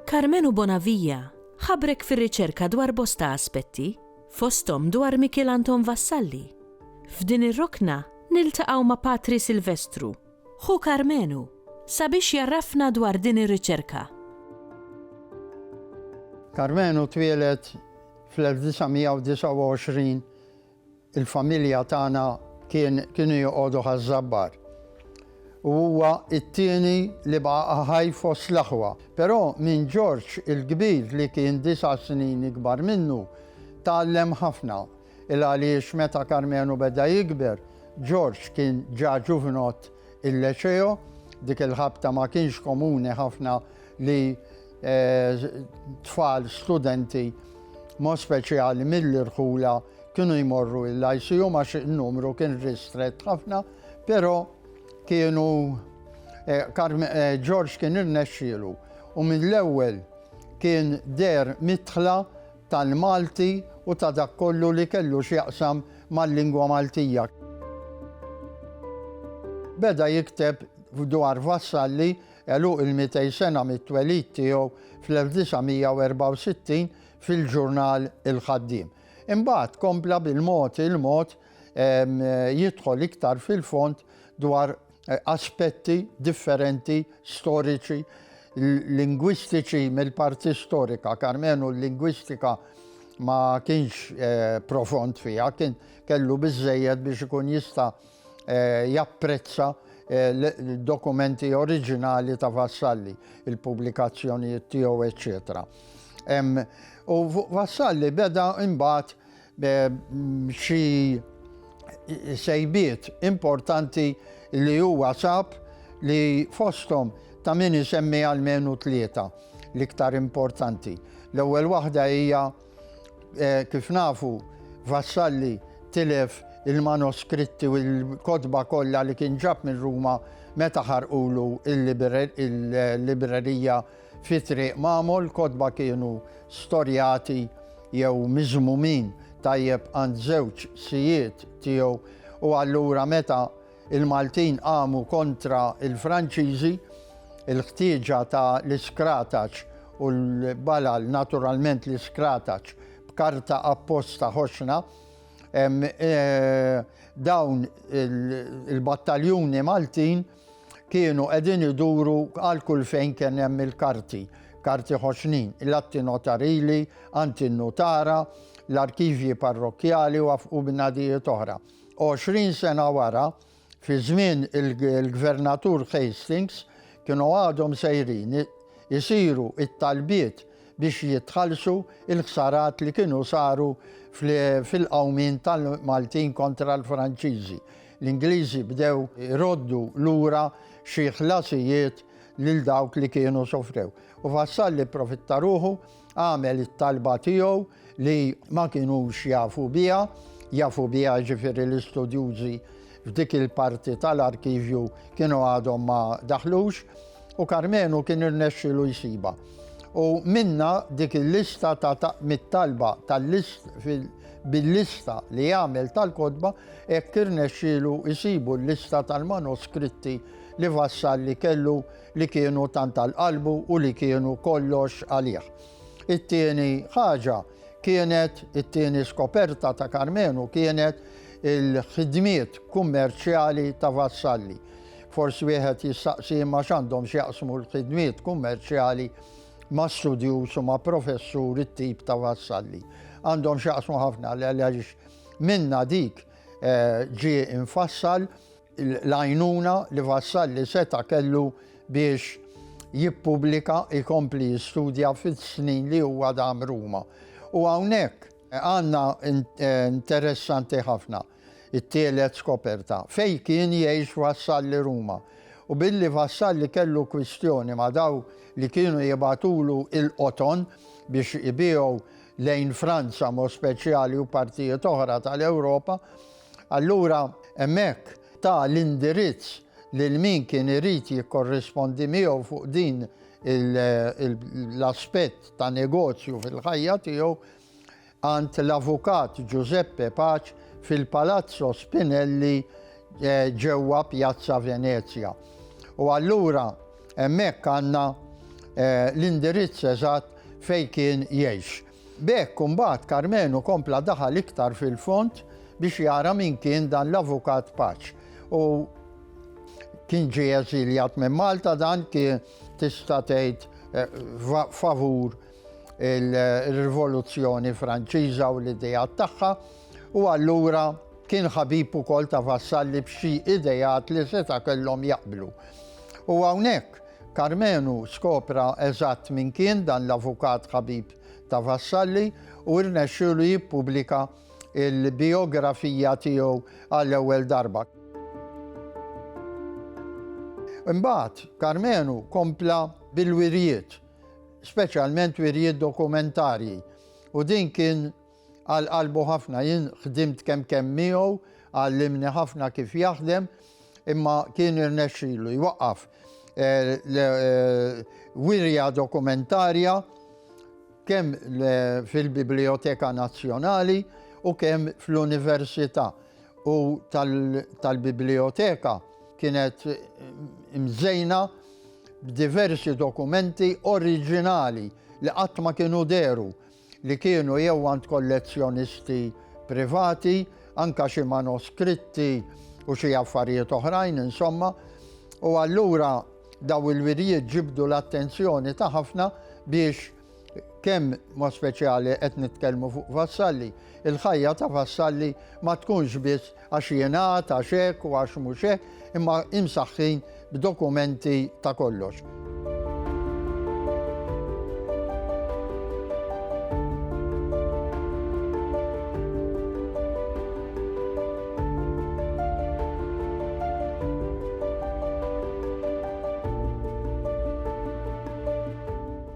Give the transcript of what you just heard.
Karmenu Bonavija ħabrek fir-riċerka dwar bosta aspetti, fosthom dwar Mikiel Anton Vassalli. F'din ir-rokna niltaqgħu ma' Patri Silvestru, Ħu Karmenu, sabiex jgħarrafna dwar din ir-riċerka. Karmenu twieled fl-1929, il-familja tagħna kien kienu joqogħdu Ħaż-Żabbar u huwa t-tieni li baqa' ħaj fost l-aħwa. Però minn Ġorġ il-Kbir li kien disa' snin ikbar minnu tgħallem ħafna. Il għaliex meta Karmenu beda jikber, George kien ġa ġuvinott il-Leceo, dik il-ħabta ma kienx komuni ħafna li tfal studenti mod speċjali mill-irħula kienu jmorru il-Lyceum għax in-numru kien ristrett ħafna, pero kienu George kien irnexxielu u mill-ewwel kien deher midħla tal-Malti u ta' dak kollu li kellu x'jaqsam mal-lingwa Maltija. Beda jikteb dwar Vassalli għeluq il-mitej sena mit-twelid tiegħu fl-1964 fil-ġurnal Il-Ħaddiem. Imbagħad kompla bil-mod il-mod jidħol iktar fil-fond dwar aspetti differenti storiċi lingwistiċi mill-parti storika, karmenu l-lingwistika ma kienx eh, profond fija, kien kellu bizzejed biex ikun jista eh, japprezza eh, dokumenti oriġinali ta' Vassalli, il-publikazzjonijiet tiegħu, eċċetera. U Vassalli beda imbagħad b'xi sejbiet importanti li huwa sab li fosthom ta' min isemmi almenu tlieta l-iktar importanti. L-ewwel waħda hija kif nafu Vassalli tilef il-manoskritti u l-kotba kollha li kien ġab minn Ruma meta ħarqulu l-librerija Fi Triq Mamo l-kotba kienu storjati jew miżmumin tajjeb għand żewġ sijiet tiegħu u allura meta l-Maltin qamu kontra l-Franċiżi, il-ħtieġa ta' l-iskrataċ u l-balal, naturalment l-iskrataċ b'karta apposta ħoxna, dawn il-battaljuni Maltin, kienu qegħdin iduru għal kull fejn kien hemm il-karti, karti ħoxnin, l-atti notarili, anti n-nutara, l-arkivji parrokkjali u afqu bnadijiet oħra. 20 sena wara, fi żmien il-Gvernatur Hastings, kienu għadhom sejrin isiru it-talbiet biex jitħallsu il-ħsarat li kienu saru fil-qawmien tal-Maltin kontra l-Franċiżi. L-Ingliżi bdew iroddu lura xi ħlasijiet lil dawk li kienu sofrew. U Vassalli pprofitta ruħu, għamel it-talba tiegħu li ma kinux jafu biha, jafu biha jiġifieri l-istudjużi f'dik il-parti tal-arkivju kienu għadhom ma daħlux, U Karmenu kien irnexxielu jsibha. U minnha dik il-lista ta' mit-talba tal-list bil-lista li jagħmel tal-kotba hekk irnexxielu jsibu l-lista tal-manoskritti li Vassalli kellu li kienu tant għal qalbu u li kienu kollox għalih. It-tieni ħaġa kienet it-tieni skoperta ta' Karmenu kienet il-ħidmiet kummerċjali ta' Vassalli. Forsi wieħed jistaqsi imma x'għandhom x'jaqsmu l-ħidmiet kummerċjali ma' studjuż u ma' professur it-tip ta' vassalli. Għandhom x'jaqsmu ħafna għaliex minna dik eh, ġie infassal l-għajnuna li vassalli seta kellu biex jippubblika ikompli jistudja fil-snin li huwa dam Ruma. U hawnhekk għandna eh, interessanti ħafna. It-tielet skoperta, fejn kien jgħix Vassalli Ruma, u billi Vassalli kellu kwistjoni ma' dawk li kienu jibgħatulu l-qoton biex ibiegħu lejn Franza b'mod speċjali u partijiet oħra tal-Ewropa, allura hemmhekk ta l-indirizz lil min kien irid jikkorrispondi miegħu fuq din l-aspett ta' negozju fil-ħajja tiegħu. għand l-Avukat Giuseppe Pace fil-Palazzo Spinelli ġewwa Pjazza Venezja. U allura hemmhekk għandna l-indirizz eżatt fejn kien jgħix. B'hekk imbagħad Karmenu kompla daħal iktar fil-fond biex jara min kien dan l-Avukat Pace. U kien ġie eżiljat minn Malta dan kien tista' tgħid favur il-Rivoluzzjoni Franċiża u l-idejat tagħha u allura kien ħabib ukoll ta' Vassalli b'xi idejat li seta' kellhom jaqblu. U hawnhekk Karmenu skopra eżatt minn kien dan l-avukat ħabib ta' Vassalli u rnexxu li jippubblika il-biografija tiegħu għall-ewwel darba. Imbagħad Karmenu kompla bil-wirjiet speċjalment wirjiet dokumentarji, u din kien għal qalbu ħafna. Jien ħdimt kemm kemm miegħu, għallimni ħafna kif jaħdem, imma kien irnexxilu jwaqqaf eh, eh, wirja dokumentarja kemm fil-Biblioteka Nazzjonali u kemm fl-Università u tal-Biblioteka kienet eh, mżejna b'diversi dokumenti oriġinali li qatt ma kienu dehru li kienu jew għand kollezzjonisti privati, anke xi manoskritti u xi affarijiet oħrajn, insomma, u allura dawn il-wirjiet ġibdu l-attenzjoni ta' ħafna biex Kemm mod speċjali qed nitkellmu fuq Vassalli, il-ħajja ta' Vassalli ma tkunx biss għax jingħad, għax hekk u għax mhux hekk, imma imsaħħin b'dokumenti ta' kollox.